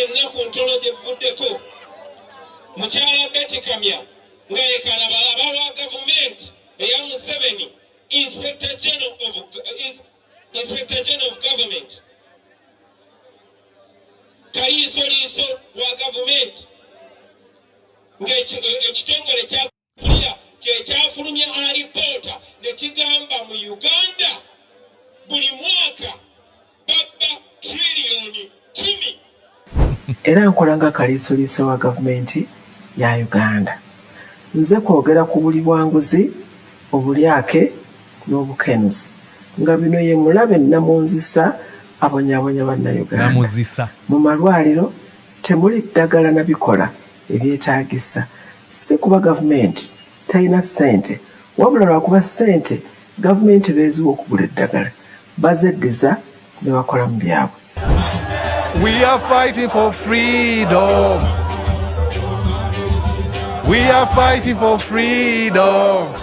ennaku ntono gye vuddeko mukyala Betty Kamya nga yekalabala abawa gavumenti eya Museveni Inspector General of, Inspector General of Government kaliisoliiso wa gavumenti ng'ekitongole kya kulira kyekyafulumya alipoota nekigamba mu uganda buli mwaka babba triliyoni kumi era nkola nga kaliisoliiso wa gavumenti ya uganda nze kwogera ku buli bwanguzi obulyake n'obukenuzi nga bino ye mulabe namunzisa abonyabonya bannayuganda mu malwaliro temuli ddagala na bikola ebyetaagisa si kuba gavumenti talina ssente wabula lwakuba ssente gavumenti beeziwa okugula eddagala bazeddiza ne bakolamu byabwe. We are fighting for freedom. We are fighting for freedom.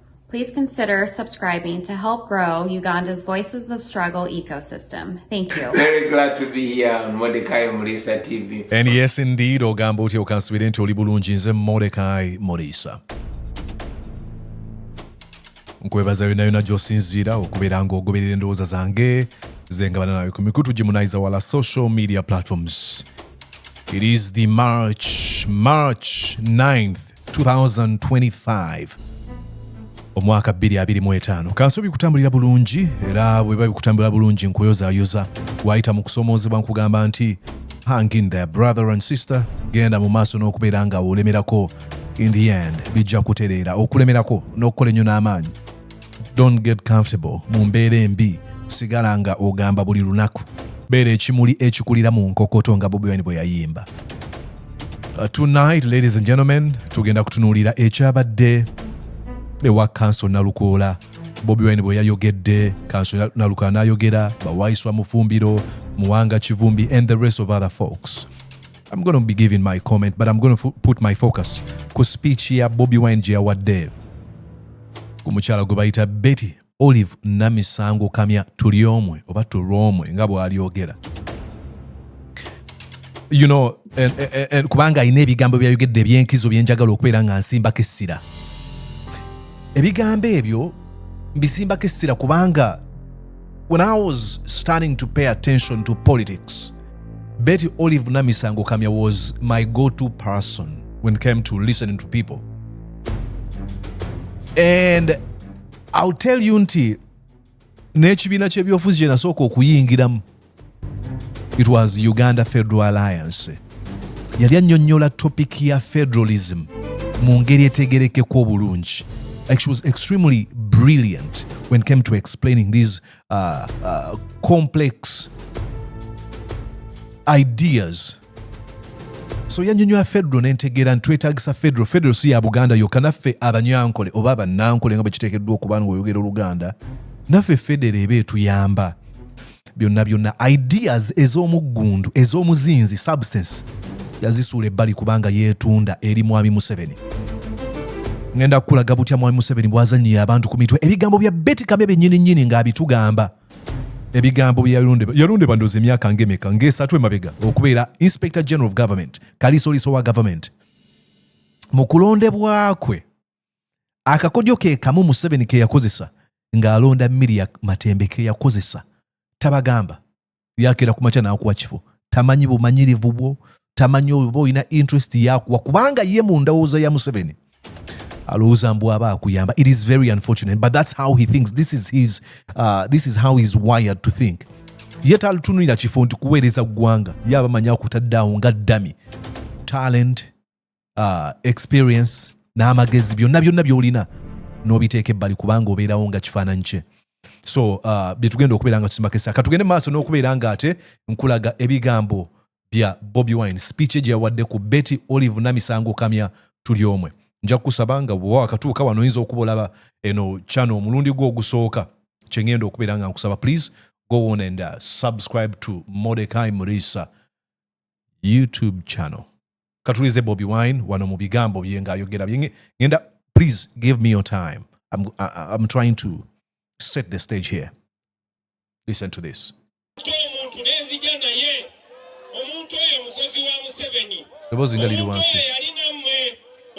Please consider subscribing to help grow Uganda's Voices of Struggle ecosystem. Thank you. Very glad to be here on Mordecai Murisa TV. And yes, indeed, ogamba otya okansubira nti oli bulungi nze Mordecai Murisa. nkwebaza yona yona gyosinziira okubeera nga ogoberera endowooza zange zengabana nawe ku mikutu gimunayiza wala social media platforms it is the march march 9th 2025 omwaka 2025 kanso bikutambulira bulungi era bwe babikutambulira bulungi nkuyozayoza wayita mu kusoomoozebwa nkugamba nti hang in there brother and sister genda mu maaso n'okubeera nga olemerako in the end bijja kutereera okulemerako n'okukola ennyo n'amaanyi don't get comfortable mu mbeera embi sigala nga ogamba buli lunaku beera ekimuli ekikulira mu nkokoto nga bobi wine bwe yayimba uh, tonight ladies and gentlemen tugenda kutunuulira ekyabadde ewa kanso nalukoola bobi wine bwe yayogedde kanso nalukoola n'ayogera bawaiswa mufumbiro muwanga kivumbi and the rest of other folks I'm going to be giving my comment but I'm going to put my focus ku speech ya Bobi Wine gye yawadde ku mukyala gwe bayita Betty Olive Namisango Kamya Tulyomwe oba Tulwomwe nga bw'alyogera you know and, and, and, kubanga alina ebigambo byayogedde ebyenkizo byenjagala okubeera nga nsimbako essira ebigambo ebyo mbisimbako essira kubanga When I was starting to pay attention to politics, Betty Olive Namisango Kamya was my go-to person when it came to listening to people. And I'll tell you nti n'ekibiina ky'ebyobufuzi kye nasooka okuyingiramu It was Uganda Federal Alliance. Yali annyonnyola topic ya federalism mu ngeri etegerekeko obulungi. Like she was extremely brilliant when it came to explaining these uh, uh, complex ideas so yanyonyola federal nentegeera nti twetagisa federal federal si ya buganda yokka naffe abanyankole oba abanankole nga bwekiteekeddwa okuba nga oyogera oluganda naffe federo eba etuyamba byonna byonna ideas ez'omuggundu ez'omuzinzi substance yazisuula ebbali kubanga yeetunda eri mwami museveni ngenda kukulaga butya mwami museveni bwazanyira abantu ku mitwe ebigambo bya beti kamya byennyini nnyini ng'abitugamba ebigambo bye yalondeba yalondeba ndoza emyaka ngemeka ngesatu emabega okubeera inspector general of government kalisoliso wa government mu kulondebwa kwe akakodyo ke kamu museveni ke yakozesa ng'alonda miria matembe ke yakozesa tabagamba yakera ku makya n'akuwa kifo tamanyi bumanyirivu bwo tamanyi oba olina interest yakuwa kubanga ye mu ndowooza ya museveni alowooza mbu aba akuyamba it is very unfortunate but that's how he thinks this is, his, uh, this is how he's wired to think ye talitunulira kifo nti kuweereza ggwanga ye abamanyi akutadde awo nga dami talent uh, experience n'amagezi byonna byonna byolina n'obiteeka ebbali kubanga obeerawo nga kifaananyi kye so uh, byetugenda okubeera nga tusimakesa katugende maaso n'okubeera nga ate nkulaga ebigambo bya bobi wine speech egye yawadde ku betty olive namisango kamya tuli omwe nja kukusaba nga bwoba wakatuuka wano oyinza okuba olaba eno chano omulundi gwo ogusooka kyengenda okubeera nga nkusaba please go on and uh, subscribe to modekai murisa youtube channel katulize bobi wine wano mu bigambo bye ng'ayogera bye ngenda please give me your time I'm, I, I'm trying to set the stage here listen to this omuntu nenzija naye omuntu oyo mukozi wa museveni eddoboozi nga liri wansi yalinammwe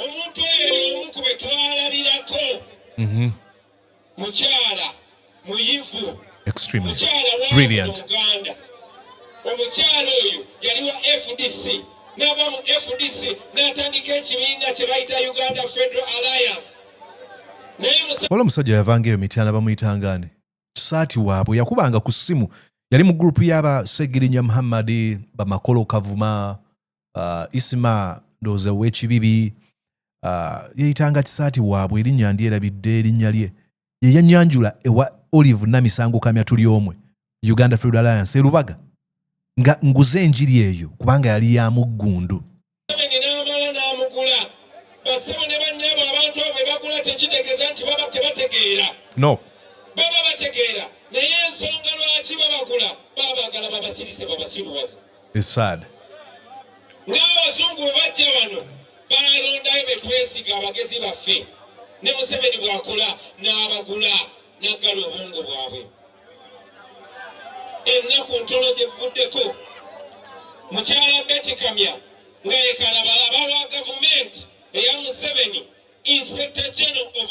omuntu oyo y'omu ku be twalabirako mhm. mukyala muyivu extremely brilliant omukyala oyo yali wa fdc nava mu fdc natandika ekibiina kye bayita uganda federal alliance wala omusajja yavanga eyo mityana bamuyitangane kisaati waabwe yakubanga ku ssimu yali mu gurupu y'aba segirinya muhammadi bamakolo kavuma uh, isima ndowooza ow'ekibibi uh, yeyitanga kisaati waabwe erinnya ndyerabidde erinnya lye ye yanyanjula ewa olive namisango kamya tuli omwe uganda field alliance erubaga nga nguze enjiri eyo kubanga yali ya muggundu no baba bategeera naye ensonga lwaki babagula babagala babasirise babasiruwaza It's sad. N'abazungu bajja wano baalondayo be twesiga abagezi baffe ne Museveni bw'akola n'abagula n'aggala obwongo bwabwe. Ennaku ntono gye vuddeko mukyala Betty Kamya nga ye kalabala bawa gavumenti eya Museveni Inspector General of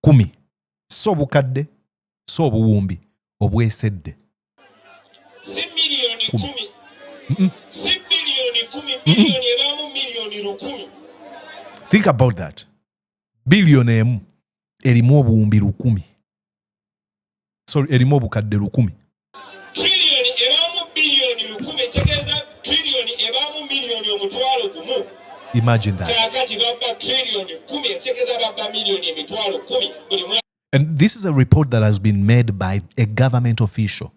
kumi si obukadde si obuwumbi obwesedde think about that biliyoni emu erimu obuwumbi lukumi sorry erimu obukadde lukumi trillion ebamu billion lukumi etegeeza trillion ebamu million omutwalo gumu imagine that kakati babba trillion kumi etegeeza babba million emitwalo kumi buli and this is a report that has been made by a government official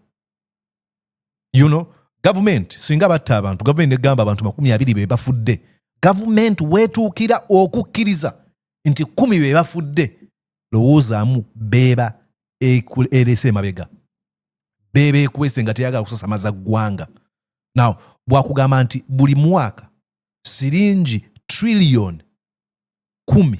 you know gavumenti singa batta abantu gavumenti negamba abantu makumi abiri be bafudde gavumenti wetuukira okukkiriza nti kumi be bafudde lowoozaamu beeba erese emabega beeba ekwese nga teyagala kusasamaza ggwanga naw bwakugamba nti buli mwaka siringi trillion kumi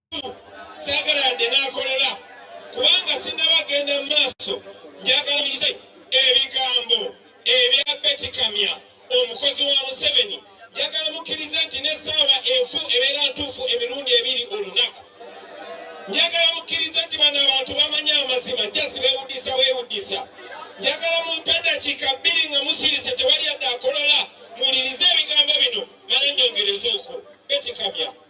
saagala yadde n'akolela kubanga sinnaba genda mu maaso njagala mirize ebigambo ebya beti kamya omukozi wa museveni njagala mukkirize nti n'essaawa enfu ebeera ntuufu emirundi ebiri olunaku njagala mukkirize nti bano abantu bamanyi amazima jasi bewudisa bewudisa njagala mumpe eddakiika bbiri nga musirise tewali yadde akolola muwulirize ebigambo bino male nyongereza okwo beti kamya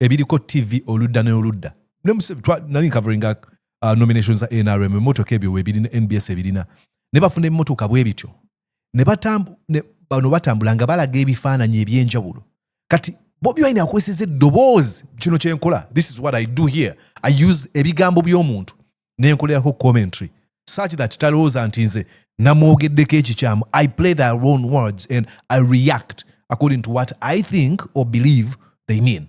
ebiriko tv oludda n'oludda nali nkaveringa uh, nomination za nrm emotoka ebyo webirina nbs ebirina ne bafuna emotoka bwe bityo bano batambula nga balaga ebifaananyi ebyenjawulo kati bobi wine akozeseza eddoboozi kino kyenkola this is what i do here i use ebigambo by'omuntu nenkolerako commentary such that talowooza nti nze namwogeddeko ekikyamu i play their own words and i react according to what i think or believe they mean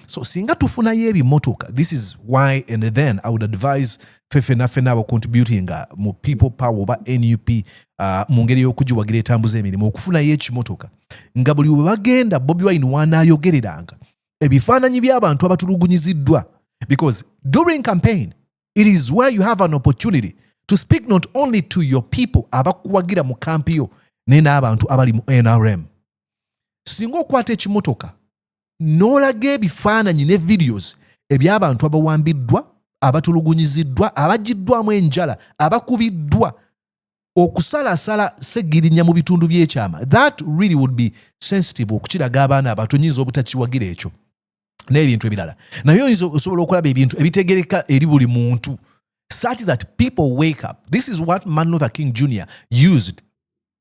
so singa tufunayo ebimotoka this is why and then i would advise fefenafena abacontributing mu people power oba nup uh, mu ngeri y'okugiwagira etambuza emirimu okufunayo ekimotoka nga buli webagenda bobi wine wanayogereranga ebifaananyi by'abantu abatulugunyiziddwa because during campaign it is where you have an opportunity to speak not only to your people abakuwagira mu kampi yo naye n'abantu abali mu nrm singa okwata ekimotoka n'olaga ebifaananyi ne videos eby'abantu abawambiddwa abatulugunyiziddwa abagiddwamu enjala abakubiddwa okusalasala segirinya mu bitundu byekyama that really would be sensitive okukiraga abaana abato nyinza obutakiwagira ekyo n'ebintu ebirala naye oyinza osobola okulaba ebintu ebitegereka eri buli muntu such that people wake up this is what martin luther king jr used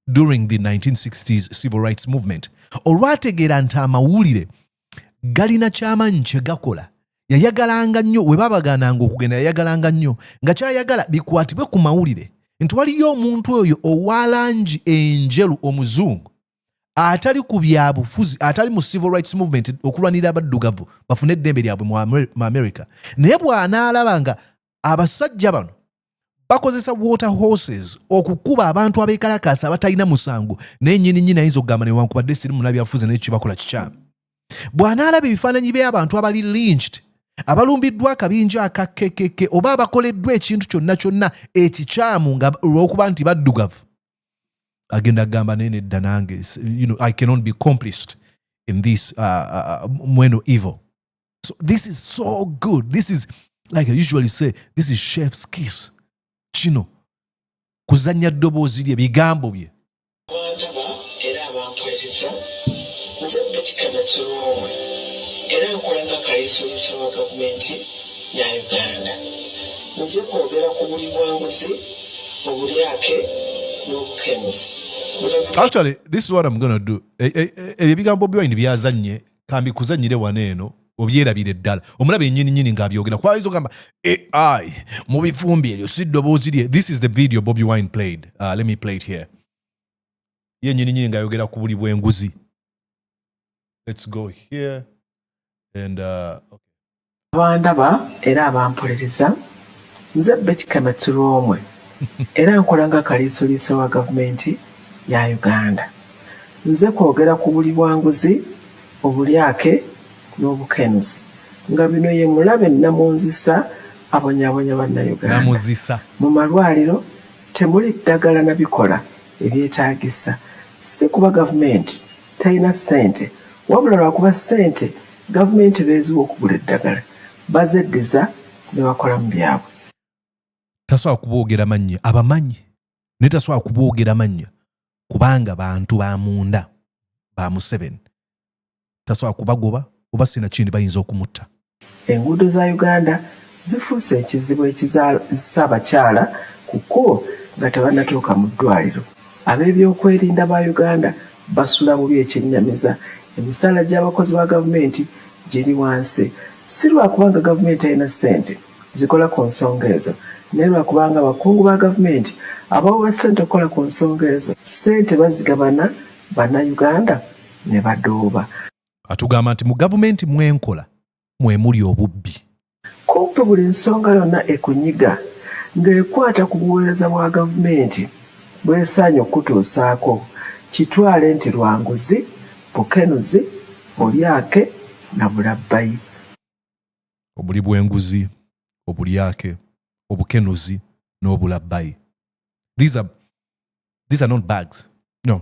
during the 1960s civil rights movement olwategeera nti amawulire galina kyamaanyi kye gakola yayagalanga nnyo we baabagaananga okugenda yayagalanga nnyo nga kyayagala bikwatibwe ku mawulire nti waliyo omuntu oyo owa langi enjeru omuzungu atali ku byabufuzi atali mu civil rights movement okulwanira abaddugavu bafune eddembe lyabwe mu america naye bw'anaalaba nga abasajja bano bakozesa water horses okukuba abantu abekalakaasa abatalina musango naye nyini nyini ayinza okugamba newankubadde siri munabyafuzi naye kibakola kikyamu bw'anaalaba ebifaananyi by'abantu abali lynched abalumbiddwa akabinja aka kkk oba abakoleddwa ekintu kyonna kyonna ekikyamu nga olw'okuba nti baddugavu agenda kugamba naye nedda nange you know, i cannot be compliced in this uh, uh, uh mweno evil So this is so good. This is like I usually say, this is chef's kiss. Kino kuzannya ddoboozi lye bigambo bye. era nkola nga kayisoliso wa gavumenti ya uganda nze kwogera ku buli bwanguzi obulyake n'obukemuzi actually this is what i'm gonna do ebyo eh, eh, eh, ebigambo bywaini byazannye kambikuzanyire wano eno obyerabire ddala omulaba enyini nyini ngaabyogera kwayiza ogamba ai mu bifumbi eryo si ddoboozi lye this is the video bobi wine played uh, let me play it here ye nyini nyini ngaayogera ku buli bwenguzi let's go here and uh, okay. abandaba era abampuliriza nze beti kametulwomwe era nkola nga kaliisoliiso wa gavumenti ya uganda nze kwogera ku buli bwanguzi obulyake n'obukenuzi nga bino ye mulabe namunzisa abonyabonya bannayuganda mu malwaliro temuli ddagala na bikola ebyetaagisa si kuba gavumenti Talina ssente wabula lwakuba ssente gavumenti beeziwa okugula eddagala bazeddiza ne bakolamu byabwe. Tasobola kuboogera mannya abamanyi naye tasobola kuboogera mannya kubanga bantu ba munda ba Museveni. Tasobola kubagoba oba sinakindi bayinza okumutta. Enguudo za Uganda zifuuse ekizibu ekizaalisa abakyala ku kkubo nga tebannatuuka mu ddwaaliro. Abeebyokwerinda ba Uganda basula bubi ekyennyamiza. Emisaala gy'abakozi ba gavumenti giri wansi si lwa kubanga gavumenti terina ssente zikola ku nsonga ezo naye lwa kubanga abakungu ba gavumenti abawewa ssente okukola ku nsonga ezo, ssente bazigabana Bannayuganda ne badooba. atugamba nti mu gavumenti mwenkola mwemuli obubbi kumpi buli nsonga yonna ekunyiga ng'ekwata ku buweereza bwa gavumenti bw'esaanye okukutuusaako kitwale nti lwa nguzi, bukenuzi, bulyake na bulabbayi. Obuli bw'enguzi, obulyake, obukenuzi n'obulabbayi. These are, these are not bags. No.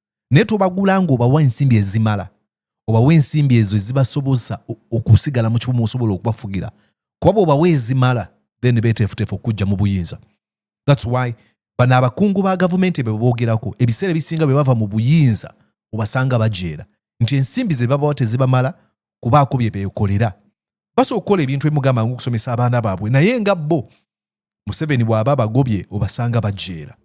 naye tobagula ng'obawa ensimbi ezimala obawa ensimbi ezo ezibasoboza okusigala mu kibumu osobola okubafugira kuba bwobawa ezimala then beteefuteefu okujja mu buyinza thats why bano abakungu ba gavumenti be boogerako ebiseera ebisinga bwe bava mu buyinza obasanga bajeera nti ensimbi ze babawa tezibamala kubaako bye beekolera basobola okukola ebintu ebimugamba ngaokusomesa abaana baabwe naye nga bo museveni bw'aba bagobye obasanga bajeera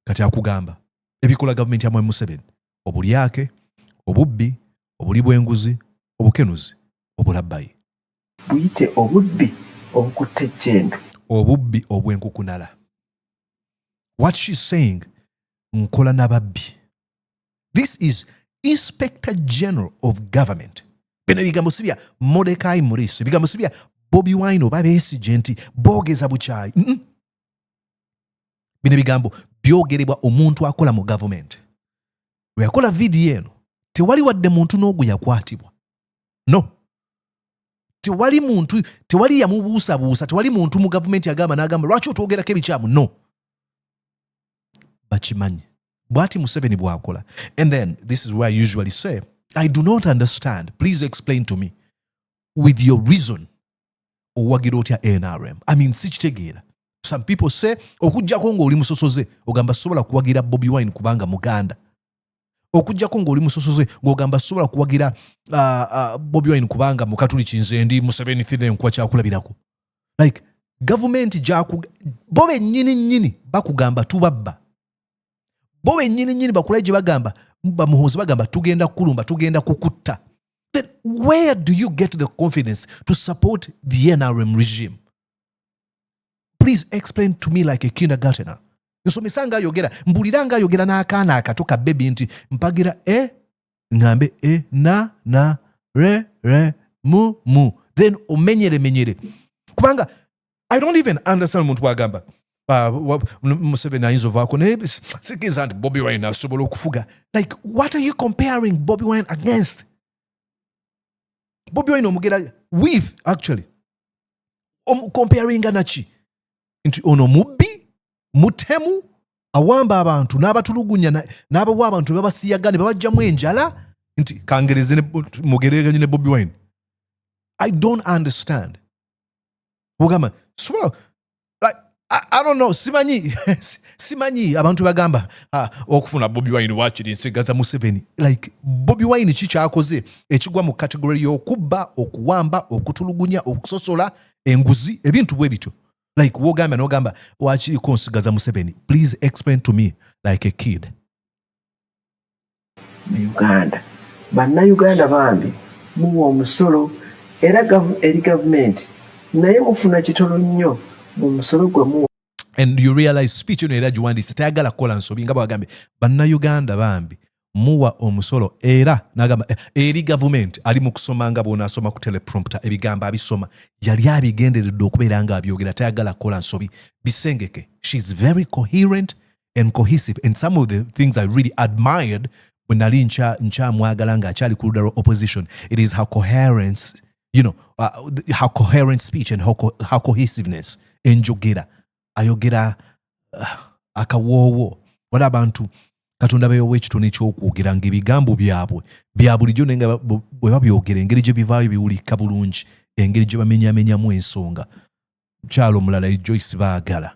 kati akugamba ebikola gavumenti ya mwami museveni obulyake obubbi obuli bw'enguzi obukenuzi obulabbayi buyite obubbi obukutte ejjembe obubbi obw'enkukunala what she saying nkola nababbi this is inspector general of government bino ebigambo si bya modekai muriso ebigambo si bya bobi wine oba besigye nti boogeza bukyayi mm -mm. bino ebigambo byogerebwa omuntu akola mu gavumenti lwe yakola vidiyo eno tewali wadde muntu n'ogu yakwatibwa no tewali muntu tewali yamubuusabuusa tewali muntu mu gavumenti agamba n'agamba lwaki otwogerako ebikyamu no bakimanyi bwati museveni bwakola and then this is where i usually say i do not understand please explain to me with your reason owagira otya nrm i mean sikitegeera some people say okujjako ng'oli musosoze ogamba sobola kuwagira bobi wine kubanga muganda okujjako ng'oli musosoze ng'ogamba sobola kuwagira uh, uh, bobi wine kubanga mukatuli kinze ndi museveni thina enkuwa kyakulabirako like gavumenti gyaku bo bennyini nnyini bakugamba tubabba bo bennyini nnyini bakulayo gye bagamba bamuhoozi bagamba tugenda kukulumba tugenda kukutta then where do you get the confidence to support the nrm regime please explain to me like a kindergartener nsomesa nga ayogera mbulira nga ayogera n'akaana akato ka bebi nti mpagira e ŋambe e na na re re mu mu then omenyeremenyere kubanga i don't even understand omuntu bwagamba museveni ayinza ovaako naye sikiriza nti bobi wine asobola okufuga like what are you comparing bobi wine against bobi wine omugera with actually comparinga naki nti ono mubbi mutemu awamba abantu n'abatulugunya n'abawa abantu bebabasiyaga ne babajjamu enjala nti kangereze mugereganyi ne bobi wine i don't understand ogamba sobola like, I, I don't know simanyi simanyi abantu bagamba ah, okufuna bobi wine wakiri nsiga za museveni like bobi wine ki kyakoze ekigwa mu kategory y'okubba okuwamba okutulugunya okusosola enguzi ebintu bwe bityo like wogamba nogamba wakiriko nsiga za museveni please explain to me like a kid mu Uganda. Bannayuganda bambi muwa omusolo era eri gavumenti naye mufuna kitono nnyo mu musolo gwe muwa. And you realize speech eno era giwandiise tayagala kukola nsobi nga bwagambye bannayuganda bambi muwa omusolo era nagamba eh, eri gavumenti ali mu kusoma nga bwonaasoma ku teleprompter ebigambo abisoma yali abigenderedde okubeera nga abyogera tayagala kukola nsobi bisengeke she is very coherent and cohesive and some of the things i really admired when nali nkyamwagala nga akyali ku ludda opposition it is her coherence you know uh, her coherent speech and her, co her cohesiveness enjogera ayogera uh, akawoowo wala abantu katonda beyowa ekitone ekyokwogera nga ebigambo byabwe bya bulijjo naye nga bwe babyogera engeri gye bivaayo biwulika bulungi engeri gye bamenyamenyamu ensonga mukyalo omulala ejoyce baagala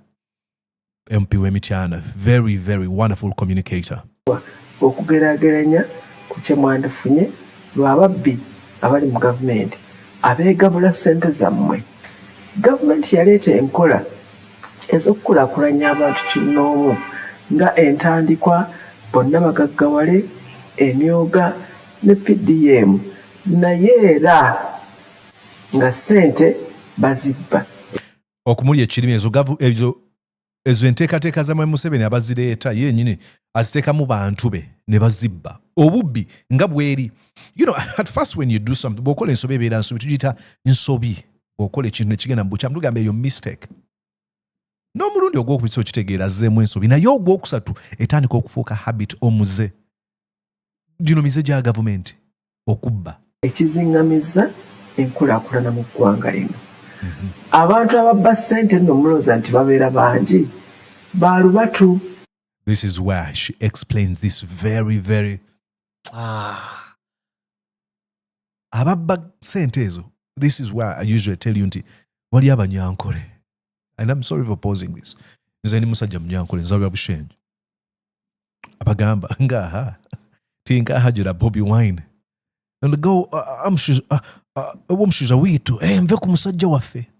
MP w'e Mityana. Very, very wonderful communicator. Okugeraageranya ku kye mwandifunye lwa babbi abali mu gavumenti abeegabula ssente zammwe. Gavumenti yaleeta enkola ez'okukulaakulanya abantu kinnoomu nga entandikwa Bonna Bagaggawale, Emyooga ne PDM naye era nga ssente bazibba. okumuli ekirimi ezo gavu ezo ezo enteekateeka za mwami museveni abazireeta yenyini aziteekamu bantu be ne bazibba obubbi nga bweri you know, at first when you do something bwokola ensobi ebeera nsobi tugiyita nsobi bwokola ekintu nekigenda mubukyamu tugamba eyo mistake n'omulundi ogwokubisa okitegeera azzeemu ensobi naye ogwokusatu etandika okufuuka habit omuze gino mize gya gavumenti okubba ekizingamiza enkulakulana mu ggwanga lino mhm. abantu ababba ssente nno mulooza nti babeera bangi balubatu This is where she explains this very, very. Ah. Ababba sente ezo. This is where I usually tell you nti wali abanyankole. And I'm sorry for pausing this. Nze ndi musajja munyankole nzalwa bushenje. abagamba ngaaha ti nkaahajura bobi wine and go uh, uh, amushiz- uh, uh, owomushiza wiitu eh, nve ku musajja waffe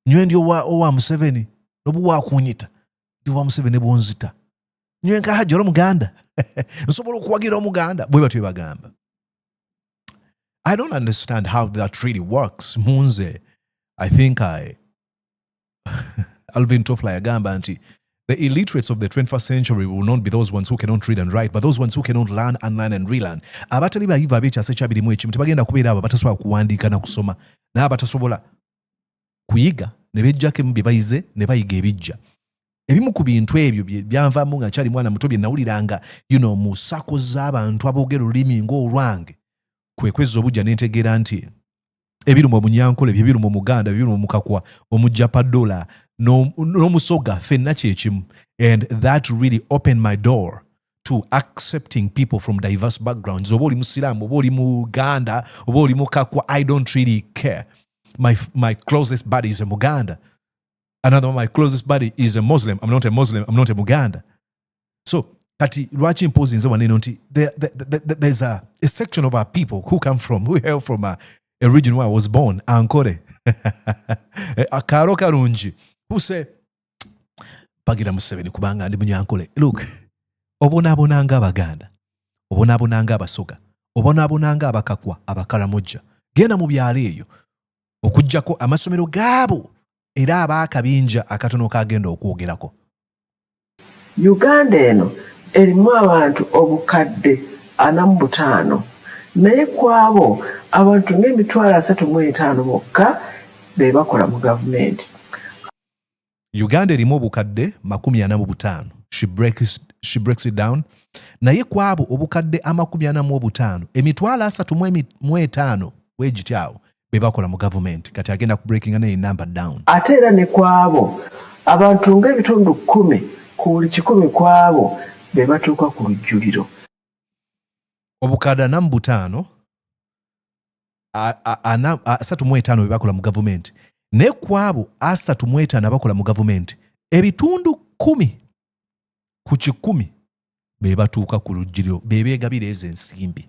nywe ndi owa, owa museveni nobu wakunyita ndi owa museveni bwonzita nywe nkaahajura omuganda nsobola okuwagira omuganda bwe batyo bagamba i don't understand how that really works munze i think i Alvin Toffler yagamba nti The illiterates of the 21st century will not be those ones who cannot read and write, but those ones who cannot learn and learn and relearn. Abatali bayivu ab'ekyasa ekyabirimu ekimu tebagenda kubeera abo abatasobola kuwandiika na kusoma naye abatasobola kuyiga ne bejjako emu bye bayize ne bayiga ebijja. Ebimu ku bintu ebyo byanvaamu nga nkyali mwana muto bye nawuliranga you know, mu sako z'abantu aboogera olulimi ng'olwange kwe kwezza obujja ne ntegeera nti ebiruma omunyankole byebiruma omuganda byebiruma omukakwa omujapadola n'omusoga no, fenna kyekimu and that really opened my door to accepting people from diverse backgrounds oba oli musiraamu oba oli muganda oba oli mukakwa i don't really care my, my closest buddy is a muganda another one, my closest buddy is a muslim i'm not a muslim i'm not a muganda so kati lwaki mpoozi nze waneno nti there's a, a section of our people who come from who hail from a, a region where i was born ankore akaalo kalungi who say mpagira museveni kubanga ndi munyankole look obonaabonanga abaganda obonaabonanga abasoga obonaabonanga abakakwa abakaramojja genda mu byalo eyo okugyako amasomero gaabo era abaakabinja akatono kagenda okwogerako Uganda eno erimu abantu obukadde ana mu butaano naye ku abo, abantu ng'emitwalo asatu mu etaano bokka be bakola mu gavumenti. Uganda erimu obukadde makumi ana mu butaano she breaks, she breaks it down naye ku abo obukadde amakumi ana mu obutaano emitwalo asatu mu etaano bwe gityo awo bebakola mu gavumenti kati agenda ku breakinga naye number down ate era ne kwabo abantu nga ebitundu kumi ku buli kikumi kwabo be batuuka ku lujjuliro obukadde ana mu butaano asatu mu etaano bebakola mu gavumenti naye kwabo asatu mu etaano abakola mu gavumenti ebitundu kumi ku kikumi be batuuka ku lujjuliro be beegabira ezo ensimbi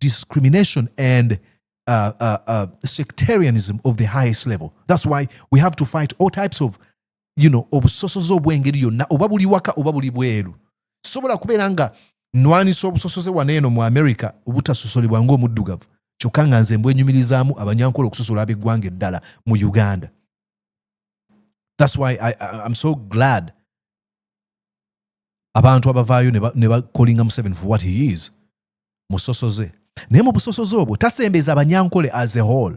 discrimination and uh, uh, uh, sectarianism of the highest level. That's why we have to fight all types of you know obusosoze obw'engeri yonna oba buli waka oba buli bweru sobola kubeera nga nwanisa obusosoze wano eno mu america obutasosolebwa ngaomuddugavu kyokka nga nze mbwenyumirizaamu abanyankola okusosola ab'eggwanga eddala mu uganda thats why I, I, i'm so glad abantu abavaayo ne bakolinga museveni for what he is musosoze naye mu busosoze obwo tasembeza abanyankole as a whole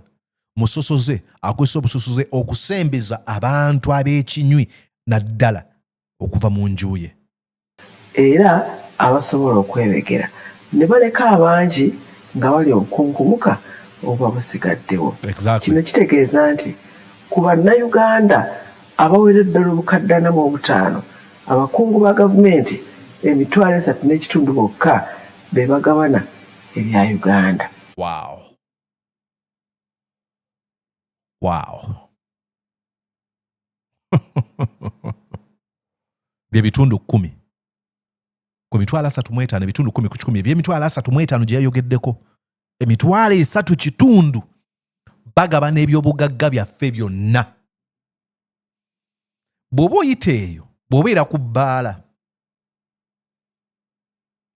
musosoze akozesa obusosoze okusembeza abantu ab'ekinywi naddala okuva mu njuye era abasobola okwebegera ne baleka abangi nga bali obukunkubuka obuba busigaddewo kino kitegeeza nti ku bannayuganda abawera eddala obukadde ana mu obutaano, abakungu ba gavumenti emitwalo esatu n'ekitundu bokka be bagabana ebya Uganda. Wow. Wow. bye bitundu kumi ku mitwalo asatu mu etaano ebitundu kumi ku kikumi eby'emitwalo asatu mu etaano gye yayogeddeko emitwalo esatu kitundu bagaba n'ebyobugagga byaffe byonna bw'oba oyita eyo bw'obeera ku bbaala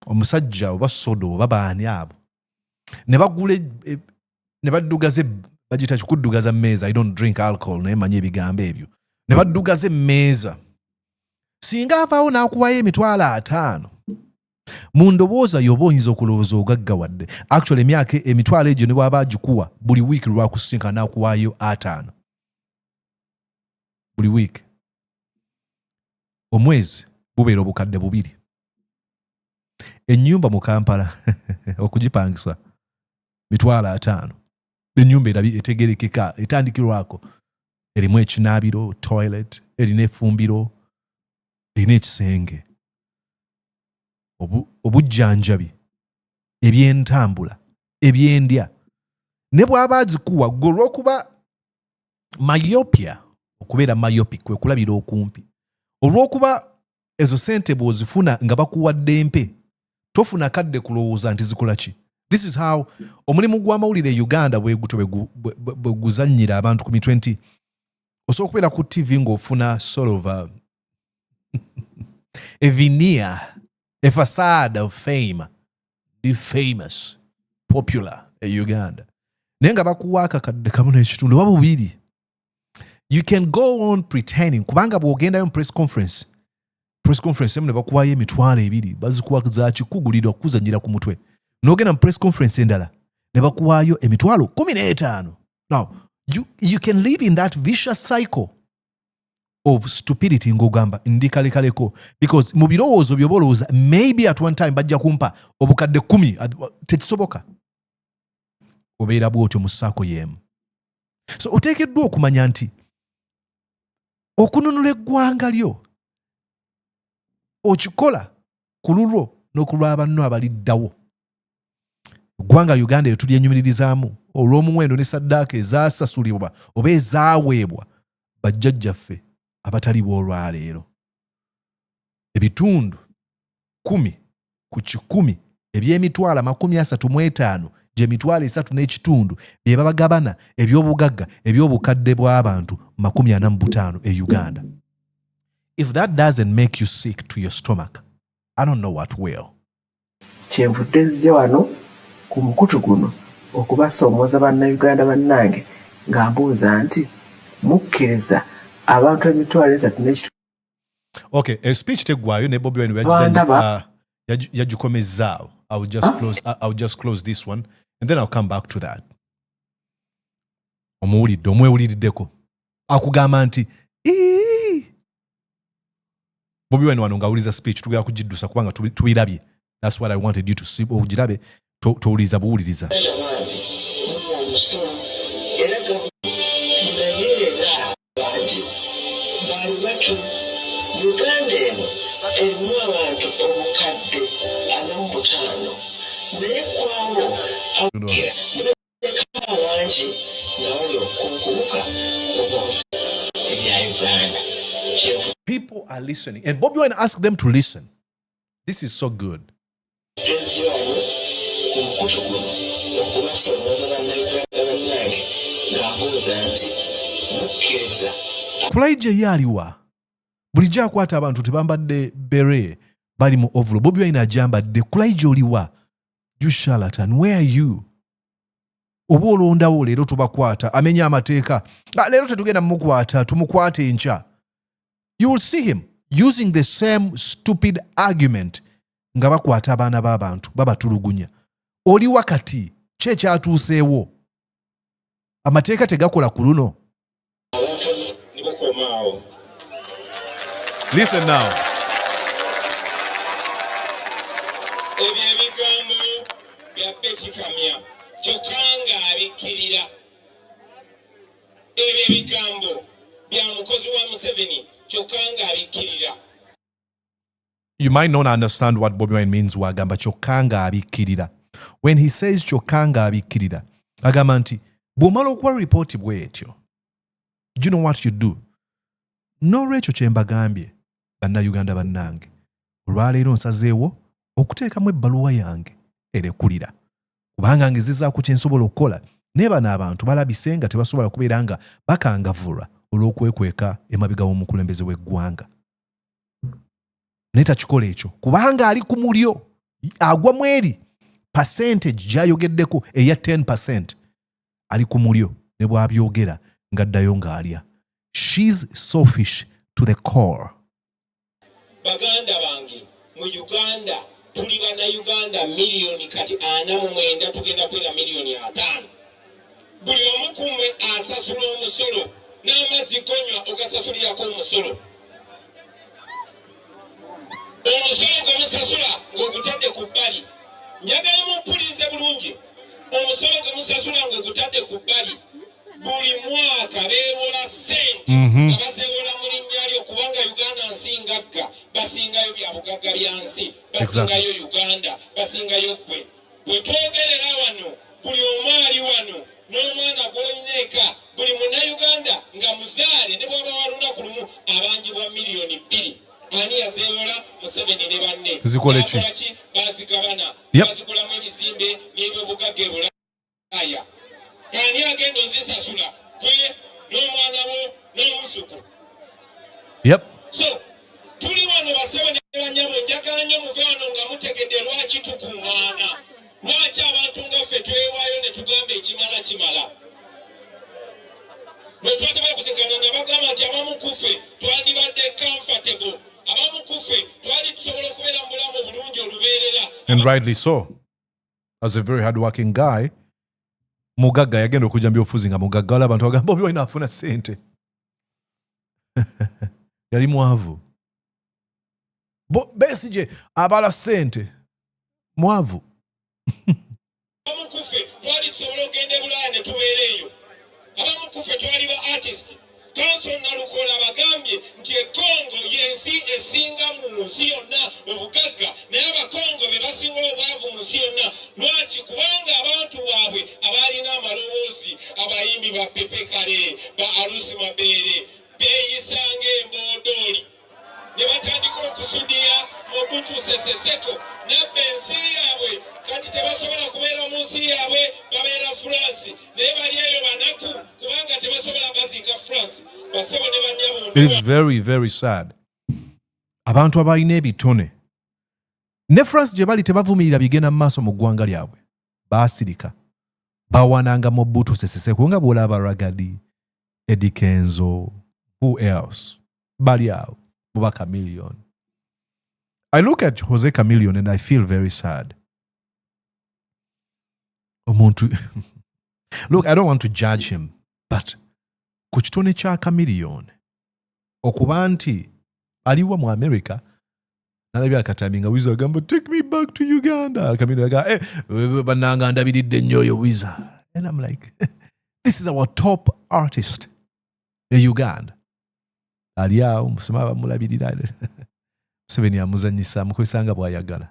omusajja oba sodo oba baani abo ne bagula e, e, ne baddugaze bagita kikuddugaza mmeeza i don't drink alcohol naye manyi ebigambo ebyo ne baddugaza emmeeza singa avaawo n'akuwayo emitwalo ataano mu ndowooza yoba oyinza okulowooza ogaggawadde actual emyaka emitwalo egyo ne bwaba agikuwa buli wiiki lwakusinkana nakuwaayo ataano buli wiiki omwezi bubeera obukadde bubiri enyumba mu kampala okugipangisa mitwalo ataano enyumba erabi etegerekeka etandikirwako erimu ekinaabiro toilet erina efumbiro erina ekisenge obujjanjabi ebyentambula ebyendya ne bwaba azikuwa gwe olwokuba mayopia okubeera mayopi kwe kulabira okumpi olwokuba ezo sente bwozifuna nga bakuwadde mpe tofuna kadde kulowooza nti zikola ki this is how omulimu gw'amawulire e uganda bwegutyo bweguzanyira abantu ku mitwe nti osobola okubeera ku tv ng'ofuna sort of a, a veneer a facade of fame be famous popular e uganda naye nga bakuwa akakadde kamu n'ekitundu oba bubiri you can go on pretending kubanga bw'ogendayo mu press conference press conference emu ne bakuwayo emitwalo ebiri bazikuwa za kikugulira okukuzanyira ku mutwe n'ogenda mu press conference endala ne bakuwaayo emitwalo kumi n'etaano now you, you can live in that vicious cycle of stupidity ngogamba ndi kalekaleko because mu birowoozo byoba olowooza maybe at one time bajja kumpa obukadde kumi tekisoboka obeera bwotyo mu saako yeemu so oteekeddwa okumanya nti okununula eggwanga lyo okikola ku lulwo n'okulwa banno abaliddawo eggwanga uganda eyo tulyenyumiririzaamu olw'omuwendo ne saddaaka ezasasulibwa oba ezaweebwa bajjajjaffe abataliwo olwaleero ebitundu kumi ku kikumi eby'emitwalo amakumi asatu mu etaano gyemitwalo esatu n'ekitundu bye babagabana eby'obugagga eby'obukadde bw'abantu makumi ana mu butaano e uganda if that doesn't make you sick to your stomach i don't know what will Kyenvudde nzija wano ku mukutu guno okubasoomooza Bannayuganda bannange nga mbuuza nti mukkiriza abantu emitwalo esatu n'ekitundu Okay, a speech teggwayo ne Bobi Wine bweyagizannya uh, yagikomezzaawo. I will just close, uh, I will just close this one and then I'll come back to that. Omuwulidde, omwewuliriddeko. akugamba nti bobi wine wano ngawuliza speech tugera kugiddusa kubanga tubirabye thats what i wanted you to see ogirabe towuliriza buwuliriza uganda eno erimu abantu obukadde anamu butaano naye kwabo wangi nga wali okukunkubuka kuva nsi ebya uganda people are listening and bobi wine ask them to listen this is so good kulaija ye aliwa bulijjo akwata abantu tebambadde bere bali mu ovulo bobi wine ajambadde kulaija oliwa you charlatan where are you oba olondawo leero tubakwata amenya amateeka ah, leero tetugenda mumukwata tumukwata enkya you will see him using the same stupid argument nga bakwata abaana b'abantu babatulugunya oli wakati kyekyatuuseewo amateeka tegakola ku luno Listen now. Ebyo ebigambo bya Betty Kamya kyokka ng'abikkirira. Ebyo ebigambo bya mukozi wa Museveni kyokka ng'abikkirira. you might not understand what bobi wine means wagamba kyokka nga abikkirira when he says kyokka nga abikkirira agamba nti bw'omala okuwa ripooti bwetyo you know what you do n'olwekyo kye mbagambye bannayuganda bannange olwaleero nsazeewo okuteekamu ebbaluwa yange erekulira kubanga ngezezaako kye nsobola okukola naye bano abantu balabise nga tebasobola kubeera nga bakangavulwa olw'okwekweka emabega w'omukulembeze w'eggwanga naye takikola ekyo kubanga ali ku mulyo agwa mu eri percentage gyayogeddeko eya 10 percent ali ku mulyo ne bwabyogera ngaddayo ng'alya shes sofish to the core baganda bange Mu Uganda tuli bannayuganda miliyoni kati ana mu mwenda tugenda kwera miliyoni ataano. Buli omu ku mmwe asasula omusolo n'amazzi gonywa ogasasulirako omusolo. Omusolo gwe musasula ng'ogutadde ku bbali. Njagala mumpulize bulungi, omusolo gwe musasula ng'ogutadde ku bbali buli mwaka beewola ssente mhm. nga bazeewola mu linnya lyo kubanga Uganda nsi ngagga basingayo bya bugagga bya nsi basingayo uganda basingayo gwe bwe twogerera wano buli omu ali wano n'omwana gwolina eka buli munauganda nga muzaale ne bwaba wa lunaku lumu abanjibwa miliyoni bbiri ani yazeewola museveni ne banne zikoleki bazigabana bazigulamu ebizimbe n'ebyobugagga ebula aya ani agenda ozisasula gwe n'omwana wo n'omuzuku yep. so tuli wano basebe nebanyabo njagala nyo muve wano nga mutegedde lwaki tukuŋaana lwaki abantu nga ffe twewaayo ne tugamba ekimala kimala lwe twasobola okusikana nga bagamba nti abamu kuffe twandibadde comfortable abamu kuffe twali tusobola okubeera mu bulamu obulungi olubeerera and rightly so as a very hard working guy mugagga yagenda okujja mubyobufuzi nga mugagga wala abantu bagamba obi walina afuna sente yali mwavu besigye abala sente mwavu Johnson Nalukoola abagambye nti e Congo y'ensi esinga mu nsi yonna obugagga naye Abakongo be basinga obwavu mu nsi yonna. Lwaki? Kubanga abantu baabwe abaalina amaloboozi abayimbi ba Pepe Kale, ba Arusi Mabeere beeyisa ng'emboodooli. ne batandika okusudiya Mobutu Sese Seko nabba ensi yaabwe kati tebasobola kubeera mu nsi yaabwe babeera France naye bali eyo banaku kubanga tebasobola baziika France basebo ne banyabo It is very very sad abantu abalina ebitone ne France gye bali tebavumirira bigenda mu maaso mu ggwanga lyabwe baasirika bawananga Mobutu Sese Seko nga bw'olaba Ragadi Eddie Kenzo who else bali awo muba chameleon i look at jose chameleon and i feel very sad omuntu look i don't want to judge him but ku kitone kya chameleon okuba nti aliwa mu america nalabye akatambi nga wiza agamba take me back to uganda chameleon aga eh, bananga ndabiridde nnyo oyo wiza and i'm like this is our top artist e uganda ali awo musema bamulabirira museveni amuzanyisa mukozesa nga bwayagala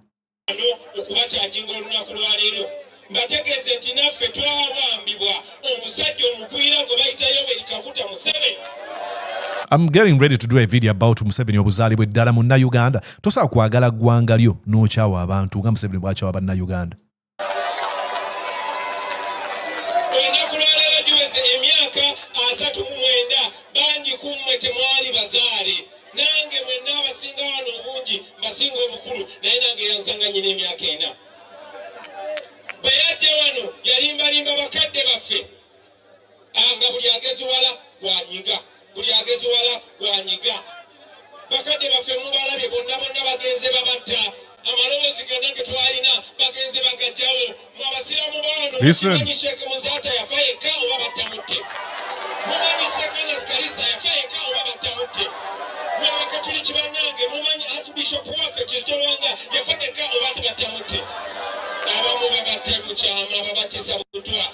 okubakyajinga olunaku lwaleero mbategeeze nti naffe twawambibwa omusajja omugwira gwe bayita yoweri kaguta museveni I'm getting ready to do a video about Museveni obuzaali bwe ddala mu Uganda. Tosaa kwagala ggwanga lyo n'okyawa abantu nga Museveni bw'akyawa banna Uganda. olunaku lwaleero giweze emyaka asatu mu mwenda bangi ku mmwe temwali bazaale nange mwenna abasinga wano obungi mbasinga obukulu naye nange yansanga nyina emyaka ena bwe yajja wano yalimbalimba bakadde baffe anga buli ageziwala gwanyiga buli ageziwala gwanyiga bakadde baffe mubalabye bonna bonna bagenze babatta amaloboozi gonna ge twalina bagenze bagajjawo mu abasiraamu baano sheekh muzaata yafa yekka oba battamutte mumanyi sheekh anas kalisa yafa yekka oba battamutte mu abakatuliki bannange mumanyi archbishop waffe kizitolwanga yafa yekka oba tubattamutte abamu babatte mu kyama babatisa butwa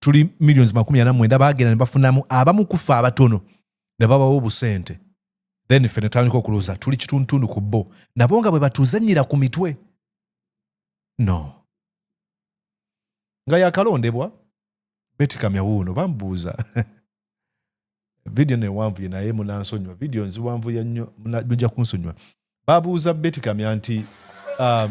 tuli millions makumi ana mwenda bagenda ne bafunamu abamu kufa abatono ne babawa obusente then ffe netandika okulooza tuli kitundutundu ku bo nabo nga bwe batuzanyira ku mitwe no nga yakalondebwa betikamya wuuno bambuuza vidiyo newanvuye naye munansonyiwa vidiyo nziwanvuya nnyo mujja kunsonyiwa babuuza betikamya nti uh,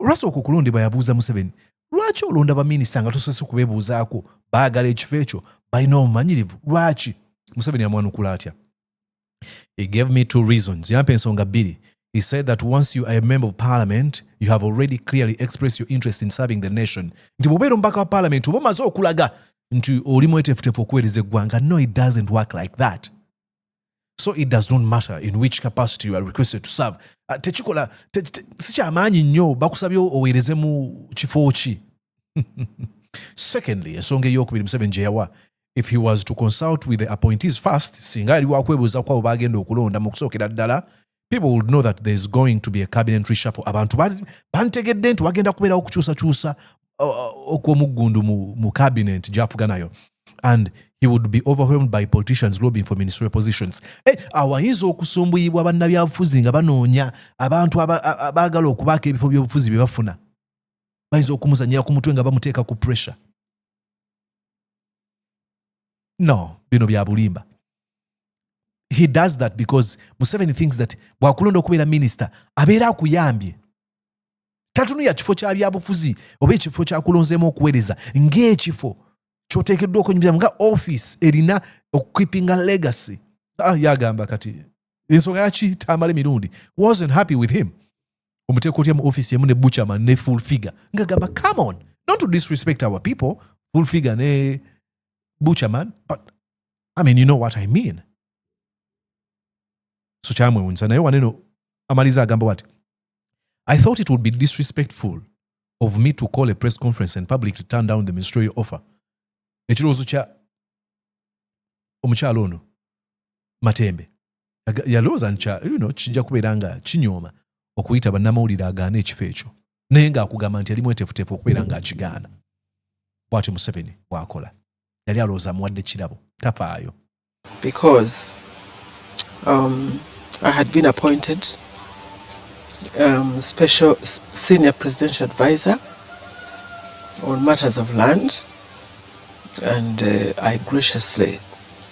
olwasooka okulondebwa yabuuza museveni lwaki olonda baminisita nga tosose kubebuuzaako baagala ekifo ekyo balina obumanyirivu lwaki museveni yamwanukula atya he gave me two reasons yampa ensonga bbiri he said that once you are a member of parliament you have already clearly expressed your interest in serving the nation nti bwobeera omubaka wa parliament oba omaze okulaga nti oli mwetefutefu okuweereza eggwanga no it doesn't work like that so it does not matter in which capacity you are requested to serve uh, tekikola te, te, sikyamaanyi nnyo bakusabye oweereze mu kifo ki secondly ensonga eyokubiri museveni gye yawa if he was to consult with the appointees first singa yali wakwebuuza kwabo bagenda okulonda mu kusookera ddala people will know that there's going to be a cabinet reshuffle abantu bantegedde nti wagenda kubeerawo okukyusakyusa uh, uh, okw'omuggundu mu cabinet gyafuga nayo and he would be overwhelmed by politicians lobbying for ministerial positions hey, eh, awayinza okusumbuyibwa bannabyabufuzi nga banoonya abantu abaagala okubaako ebifo by'obufuzi bye bafuna bayinza okumuzanyira ku mutwe nga bamuteeka ku pressure no bino byabulimba he does that because museveni thinks that bwakulonda okubeera minisita abeera akuyambye tatunuya kifo kya byabufuzi oba ekifo kyakulonzeemu okuweereza ng'ekifo kyoteekeddwa okunyumizaamu nga office erina okukipinga legacy ah, yagamba kati ensonga yaki tamale mirundi wasn't happy with him omuteeka otya mu office emu ne buchaman ne full figure nga gamba come on not to disrespect our people full figure ne buchaman but i mean you know what i mean so kyamwewunyisa naye waneno amaliza agamba wati i thought it would be disrespectful of me to call a press conference and public to turn down the ministerial offer ekirowoozo kya omukyalo ono matembe yalowooza nti you know, kijja kubeera nga kinyooma okuyita bannamawulire agaana ekifo ekyo naye ng'akugamba nti yali mwetefutefu okubeera ng'akigaana bwatyo museveni bwakola yali alowooza amuwadde kirabo tafaayo because um, i had been appointed um, special senior presidential advisor on matters of land and uh, i graciously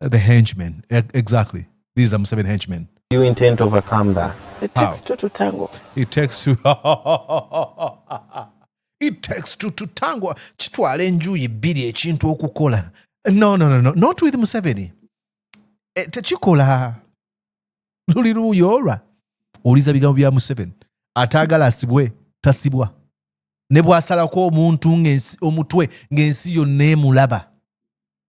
Uh, the henchmen. E- exactly. These are Museveni henchmen. You intend to overcome that? It takes How? two to tango. It takes two. It takes two to tango. Kitwala enjuyi bbiri ekintu okukola. No, no, no, no. Not with Museveni. E, tekikola. Luli luyoolwa. Oliza bigambo bya Museveni. Ataagala asibwe tasibwa. Ne bw'asalako omuntu omutwe ng'ensi yonna emulaba.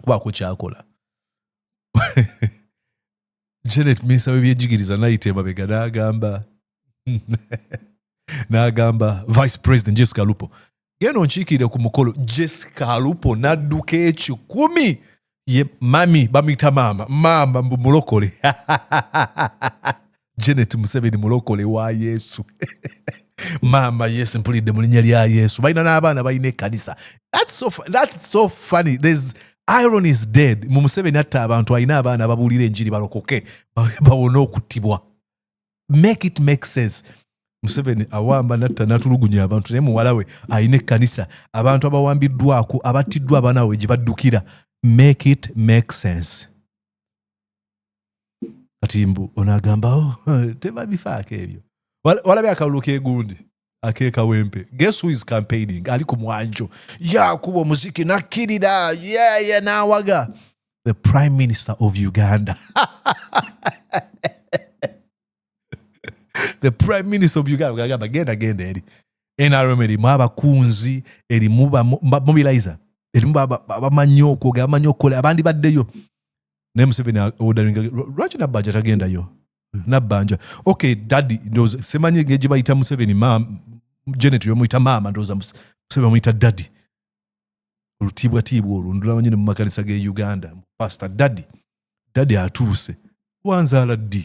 kubaako kyakola janet minsa webyejigiriza nayita emabega n'agamba n'agamba vice president jessica lupo genda onkiikirire ku mukolo jessica lupo n'adduka ekikumi ye mami bamuyita maama maama mbu mulokole janet museveni mulokole wa yesu maama yesu mpulidde mu linnya lya yesu balina n'abaana balina ekkanisa thats so funny there's iron is dead mu museveni atta abantu alina abaana ababuulira enjiri balokoke bawone okuttibwa make it make sense museveni awamba natta natulugunya abantu naye muwala we alina ekkanisa abantu abawambiddwako abattiddwa abaana we gye baddukira make it make sense kati mbu onagambawo oh, tebabifaako ebyo walabi akalulu kegundi akekawempe guess who is campaigning ali ku mwanjo yakuba omuziki nakkirira yeye nawaga the prime minister of uganda the prime minister of uganda gagamba genda genda eri nrm erimu abakunzi erimu mobilizer erimu bamanyi okwogera bamanyi okukola abandi baddeyo naye museveni odaringa lwaki nabbanja tagendayo nabbanja okay daddy ndowooza simanyi engeri gye bayita museveni janet bamuyita maama ndowooza museveni bamuyita daddy olutiibwatiibwa olwo ndulamanyi ne mu makanisa g'e uganda pastor daddy daddy atuuse wanzaala ddi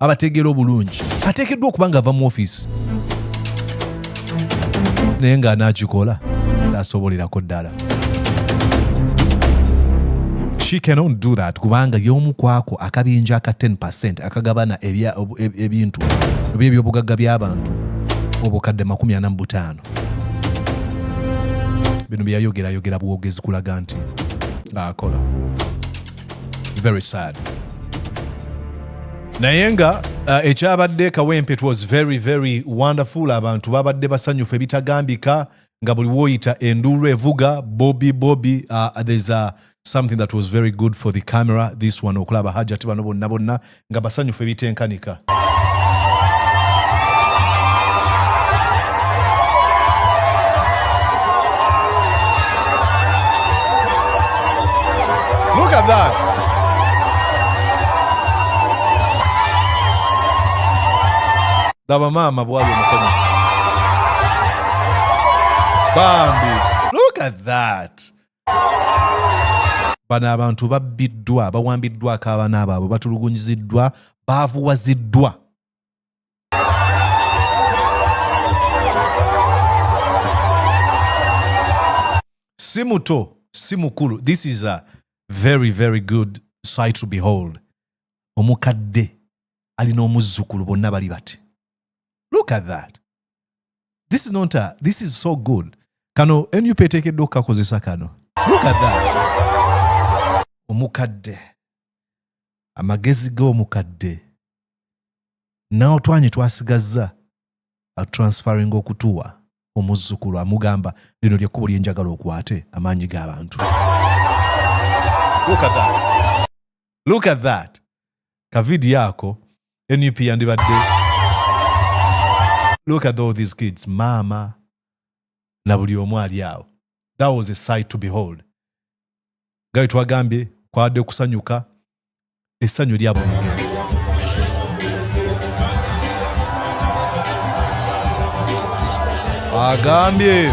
abategeera obulungi ateekeddwa okuba nga ava mu ofiisi naye ng'anaakikola asobolerako ddala she cannot do that kubanga y'omu kwako akabinja aka 10 percent akagabana ebintu oba ebyobugagga by'abantu obukadde 45 bino byeyayogerayogera bwogezi kulaga nti ng'akola very sad naye nga uh, ekyabadde kawempe it was very very wonderful abantu babadde basanyufu ebitagambika nga buli woyita enduulu evuga bobi bobi uh, there's a uh, something that was very good for the camera this one okulaba hajati bano bonna bonna nga basanyufu ebitenkanika. Look at that. laba maama bwali omusanyufu bambi look at that bano abantu babbiddwa bawambiddwako abaana baabwe batulugunyiziddwa baavuwaziddwa si muto si mukulu this is a very very good sight to behold omukadde alina omuzzukulu bonna bali bati look at that this is not a, this is so good kano nup eteekeddwa okukakozesa kano look at that omukadde amagezi g'omukadde nawo twanyi twasigazza atransferinga okutuwa omuzzukulu amugamba lino lyekkubo lyenjagala okwate amaanyi g'abantu look at that kavidi yako nup yandibadde look at all these kids maama na buli omu ali awo that was a sight to behold nga bwe twagambye kwabadde kusanyuka essanyu lya buli agambye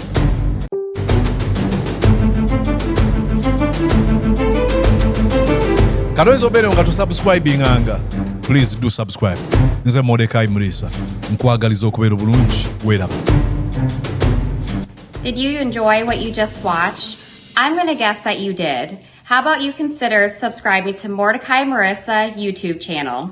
kati oyinza obeera nga tusubscribinganga please do subscribe nze modekai murisa nkwagaliza okubeera obulungi weeraba Did you enjoy what you just watched? I'm going to guess that you did. How about you consider subscribing to Mordecai Marissa YouTube channel?